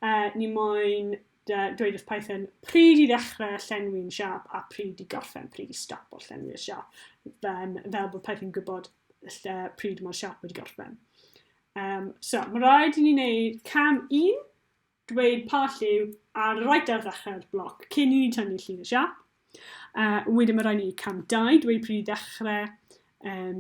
[SPEAKER 1] Uh, ni moyn uh, dweud wrth Python pryd i ddechrau llenwi'n siap a pryd i gorffen, pryd i stop o llenwi'r siap, um, fel bod Python gwybod lle, pryd mae'r siap wedi gorffen. Um, so, mae rhaid i ni wneud cam un, dweud pa lliw ar y right ar ddechrau'r bloc cyn i ni tynnu llun y siap. A wedyn mae rhaid ni cam 2, dweud pryd i ddechrau, um,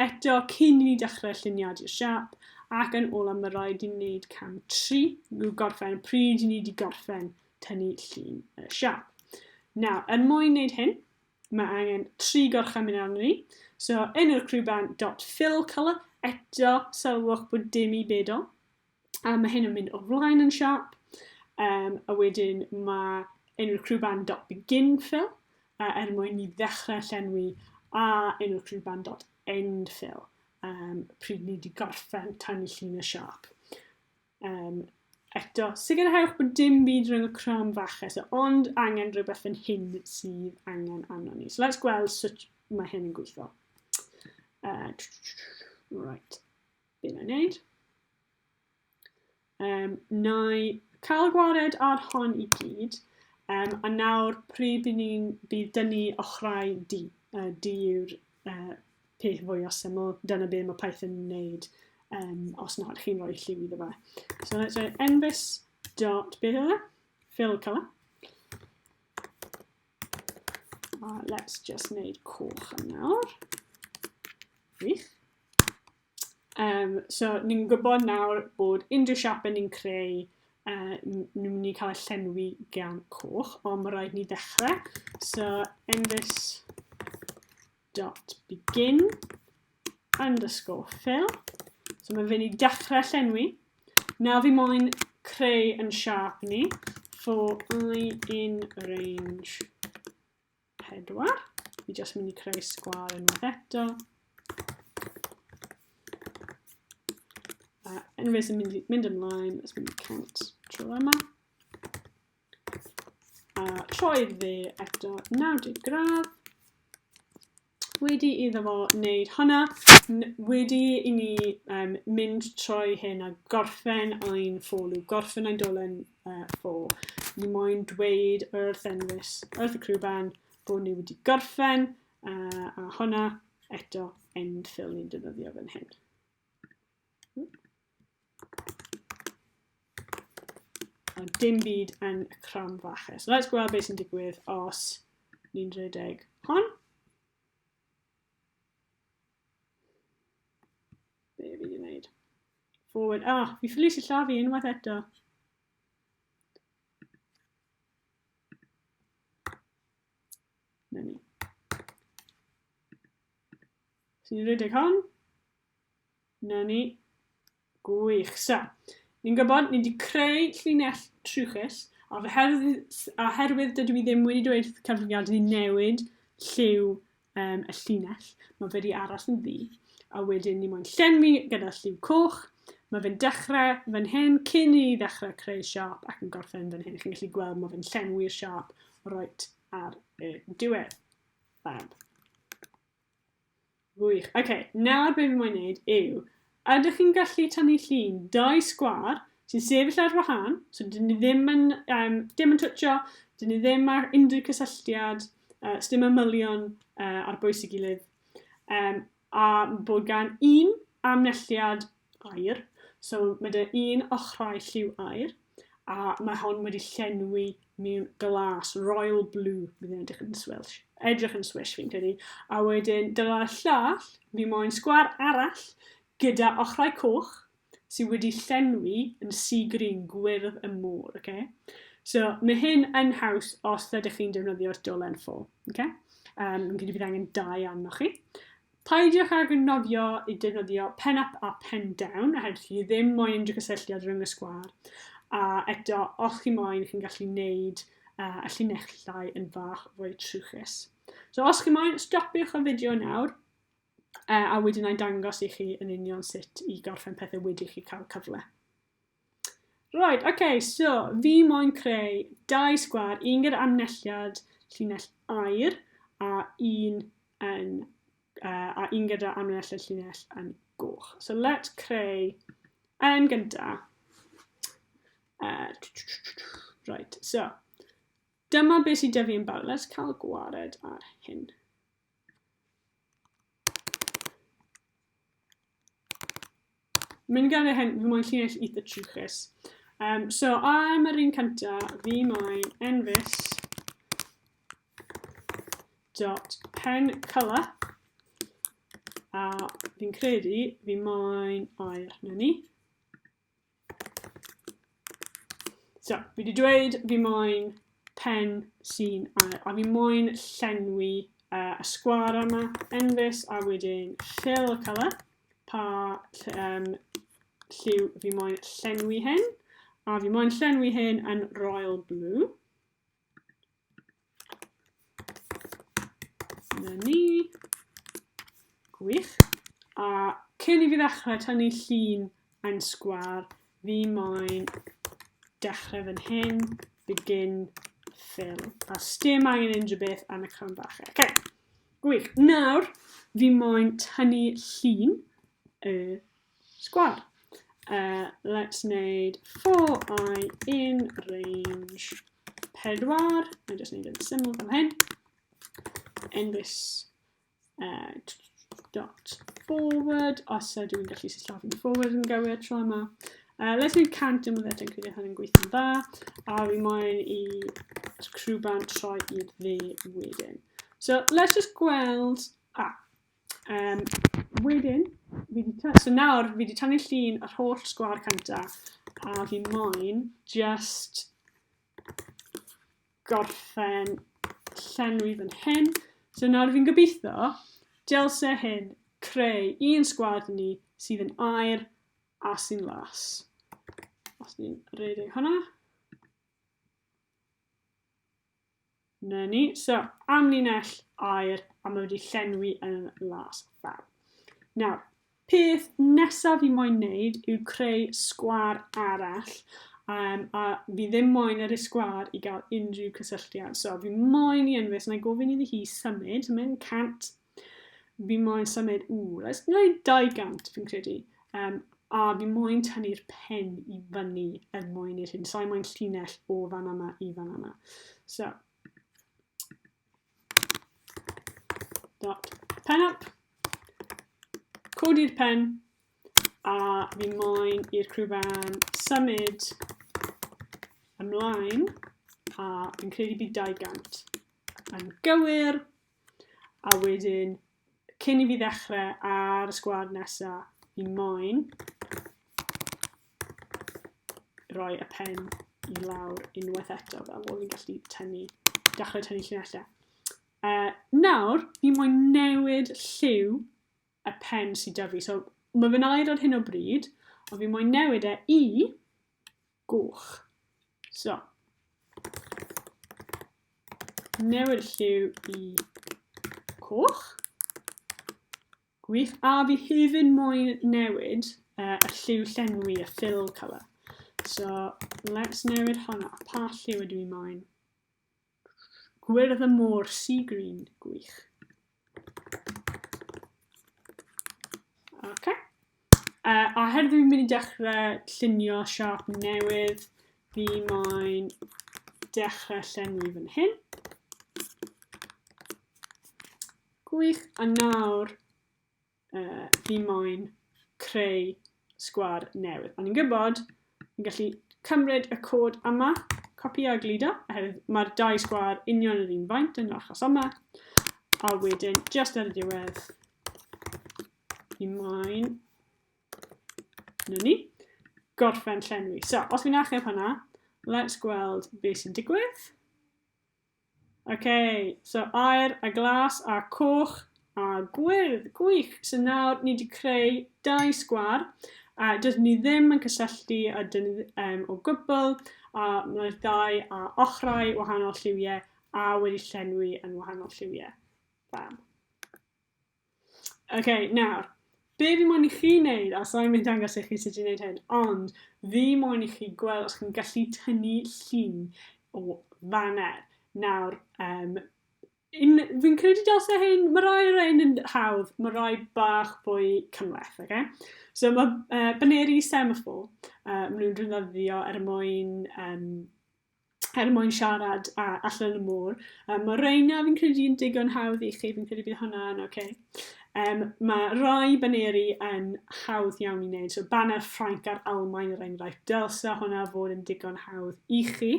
[SPEAKER 1] eto cyn i ni dechrau lluniad i'r siap, ac yn ola mae rhaid i ni wneud cam 3, yw gorffen pryd i ni wedi gorffen tynnu llun y siap. Nawr, er mwyn wneud hyn, mae angen tri gorchymyn arno ni. So, enw'r crwban dot fill colour, eto sylwch bod dim i bedol. A mae hyn yn mynd o flaen yn siap. Um, a wedyn mae enw'r crew band dot begin fill, uh, er mwyn i ddechrau llenwi, a enw'r crew band dot end fill, um, pryd ni wedi gorffen tanu llun y siap. Um, eto, sicrhewch bod dim byd rhwng y cram fache, so ond angen rhywbeth yn hyn sydd angen arno ni. So let's gweld sut mae hyn yn gweithio. Uh, right. Be na i wneud? Um, na i cael gwared ar hon i gyd. Um, a nawr, pryd i ni'n bydd dynnu ochrau di, uh, di yw'r uh, peth fwy o syml. Dyna be mae Python yn wneud um, os nad chi'n rhoi lliw iddo fe. So let's say envis dot beth yw e? Fill colour. Uh, let's just wneud coch yn nawr. Wych. Um, so, ni'n gwybod nawr bod unrhyw siapau ni'n creu, uh, ni'n mynd i cael ei llenwi gan coch, ond mae rhaid ni ddechrau. So, envis dot begin underscore fill. So, mae'n fynd i dechrau llenwi. Nawr fi moyn creu yn siap ni for i in range 4. Fi jyst mynd i creu sgwar yn unwaith eto. A unwaith yn mynd, mynd ymlaen, let's mynd count trwy yma. A troi dde eto 90 gradd. Wedi iddo fo wneud hwnna, wedi i ni um, mynd troi hyn a gorffen ein ffolw, gorffen ein dolen uh, for. Ni moyn dweud wrth enwys, wrth y crwban, bod ni wedi gorffen uh, a honna eto end fill ni'n defnyddio fan hyn. A dim byd yn y cram faches. Let's gweld beth sy'n digwydd os ni'n rhedeg hon. Be fi wedi gwneud? Forward. Ah, fi ffili si llafu unwaith eto. Neu ni. Sy'n rhedeg hon. 'Na ni. Gwych. So, ni'n gwybod, ni wedi creu llinell trwchus, a oherwydd dydw i ddim wedi dweud wrth cyfrifiadur i newid lliw um, y llinell, mae fe wedi aros yn ddi. A wedyn ni moyn llenwi gyda lliw coch, Mae fe'n dechrau fan hyn cyn i ni ddechrau creu siop ac yn gorffen fan hyn. Chi'n gallu gweld mae fe'n llenwi'r siop roet ar y diwedd. Fab. Gwych. OK, nawr be fi moyn neud yw, ydych chi'n gallu tynnu llun dau sgwar sy'n sefyll ar wahân, so dyn ni ddim yn, um, dim yn twtio, dyn ni ddim ar unrhyw cysylltiad, uh, dim ymylion uh, ar bwys i gilydd, um, a bod gan un amnelliad aer, so mae dy un ochrau lliw aer, a mae hon wedi llenwi mewn glas, royal blue, bydd yn edrych yn Welsh, edrych yn Swish fi'n credu, a wedyn dyna'r llall, fi moyn sgwar arall gyda ochrau coch sydd wedi llenwi yn sea green gwyrdd y môr, okay? So mae hyn yn haws os ydych chi'n defnyddio'r dolen ffo, okay? Um, yn credu bydd angen dau arnoch chi. Peidiwch ag anghofio i defnyddio pen up a pen down oherwydd chi ddim moyn unrhyw gysylltiad rhwng y sgwâr a eto os chi moyn chi'n gallu neud uh, y llinellau yn fach fwy trwchus. So os chi moyn, stopiwch y fideo nawr uh, a wedyn a'i dangos i chi yn union sut i gorffen pethau wedi chi cael cyfle. Right, ok, so, fi moyn creu dau sgwar, un gyda amnelliad llinell air a un yn, uh, a un gyda amnelliad llinell yn goch. So let's creu yn gynta. Uh, right, so, dyma beth sydd dyfu yn bawr. Let's cael gwared ar hyn. Mae'n gael ei hen, fi moyn llinell eitha trwchus. Um, so, am yr un cynta, fi moyn enfys dot pen colour. A fi'n credu fi moyn air na ni. So, fi wedi dweud fi moyn pen sy'n ail, a fi moyn llenwi uh, y sgwar yma, enfys, a wedyn fill y colour, pa um, lliw fi moyn llenwi hyn, a fi moyn llenwi hyn yn royal blue. Na ni. Gwych. A cyn i fi ddechrau tynnu llun yn sgwar, fi moyn dechrau fan hyn, begin, fill. A stem angen unrhyw beth am y cam bach. E. Okay. Gwych. Nawr, fi moyn tynnu llun y sgwâr. Uh, let's wneud for i in range 4. Mae'n just wneud yn syml fel hyn. In this uh, dot forward, os uh, dwi'n gallu sillafu'n forward yn gywir tro yma. Uh, let's wneud cant yn fyddet yn credu hynny'n gweithio'n dda. A fi moyn i crwban troi i'r dde wedyn. So let's just gweld... Ah, Um, wedyn, fi di ta... So nawr, fi wedi tannu llun yr holl sgwar canta, a fi moyn just gorffen llenwi fan hyn. So nawr fi'n gobeithio, dylse hyn creu un sgwad ni sydd yn air a sy'n las. Os ni'n redeg hwnna. 'Na ni, so amlinell air a mae wedi llenwi yn las fel. Nawr, peth nesaf i moyn wneud yw creu sgwar arall um, a fi ddim moyn ar y sgwar i gael unrhyw cysylltiad. So fi moyn i Enwys, na i gofyn iddi hi symud, so mae'n cant Fi moyn symud, ww, let's gwneud 200 fi'n credu. Um, a fi moyn tynnu'r pen i fyny er mwyn i'r hyn. So I moyn llinell o fan yma i fan yma. So, dot pen up, codi'r pen, a fi moyn i'r crwban symud ymlaen, a fi'n credu bydd 200 yn gywir, A wedyn, cyn i fi ddechrau ar y sgwad nesaf, fi moyn rhoi y pen i lawr unwaith eto fel bod fi'n gallu tynnu, dechrau tynnu llinellau. Uh, nawr, fi moyn newid lliw y pen sydd da fi. So, mae fe'n air ar hyn o bryd, ond fi moyn newid e i Gwych. So. Newid lliw i coch. Gwych. A fi hefyd moyn newid uh, y lliw llenwi, y fill colour. So, let's newid hwnna. Pa lliw ydw i moyn? Gwyrdd y môr, sea green, gwych. Okay. Uh, a her dwi'n mynd i dechrau llunio siarp newydd, fi mae'n dechrau llenwi fan hyn. Gwych, a nawr uh, fi moyn creu sgwar newydd. Ond ni'n gwybod, ni'n gallu cymryd y cod yma, copi a gludo, oherwydd mae'r dau sgwar union yr un faint yn yr achos yma. A wedyn, just ar y diwedd, fi moyn na ni, gorffen llenwi. So, os fi'n achub hwnna, let's gweld beth sy'n digwydd. Ok, so aer a glas a coch a gwyrdd, gwych! So nawr ni wedi creu dau sgwar a dydyn ni ddim yn cysylltu a dyn ni um, o gwbl a mae'r dau a ochrau wahanol lliwiau a wedi llenwi yn wahanol lliwiau. Fab. OK, nawr, be fi moyn i chi wneud, a sa'n mynd dangos i chi sut i wneud hyn, ond fi moyn i chi gweld os chi'n gallu tynnu llun o faner. Nawr, um, fi'n credu dylse hyn, mae rai o'r ein yn hawdd, mae rai bach fwy cymleth, okay? So mae uh, baneri semafor, uh, maen nhw'n rhywbeth ddio er mwyn um, er mwyn siarad a, allan y môr. Um, mae Reina, fi'n credu, yn digon hawdd i chi, fi'n credu bydd hwnna yn oce. Okay. Um, mae rai baneri yn hawdd iawn i wneud. So baner Ffrainc a'r Almain er enghraifft. Dylse hwnna fod yn digon hawdd i chi.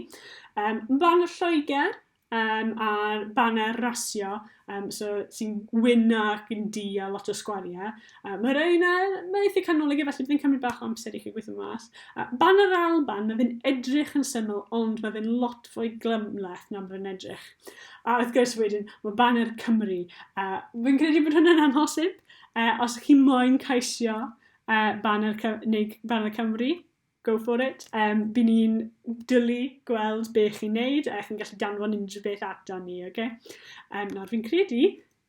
[SPEAKER 1] Um, baner Lloegr, um, a'r baner rasio um, so, sy'n gwyn ac yn di a lot o sgwariau. Uh, mae rhain a mae eitha canolig efallai byddai'n cymryd bach o amser i chi gweithio mas. Uh, baner Alban, mae fe'n edrych yn syml ond mae fe'n lot fwy glymleth na mae fe'n edrych. A wrth gwrs wedyn, mae baner Cymru. Uh, Fy'n credu bod hwnna'n amhosib. Uh, os chi moyn caisio uh, baner, neu baner Cymru, Go for it. Yym, by ni'n dwlu gweld be chi'n neud a chi'n gallu danfon unrhyw beth ata ni, oce? Yym, nawr fi'n credu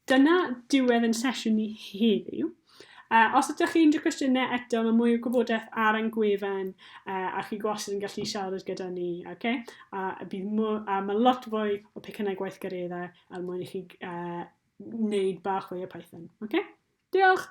[SPEAKER 1] dyna diwedd ein sesiwn ni heddiw. Uh, os ydych chi unrhyw cwestiynau eto, mae mwy o gwybodaeth ar ein gwefan uh, a chi gwastad yn gallu siarad gyda ni, oce? A bydd mwy, a mae lot fwy o pecynnau gweithgareddau er mwyn i chi uh, wneud bach fwy o Python, oce? Diolch!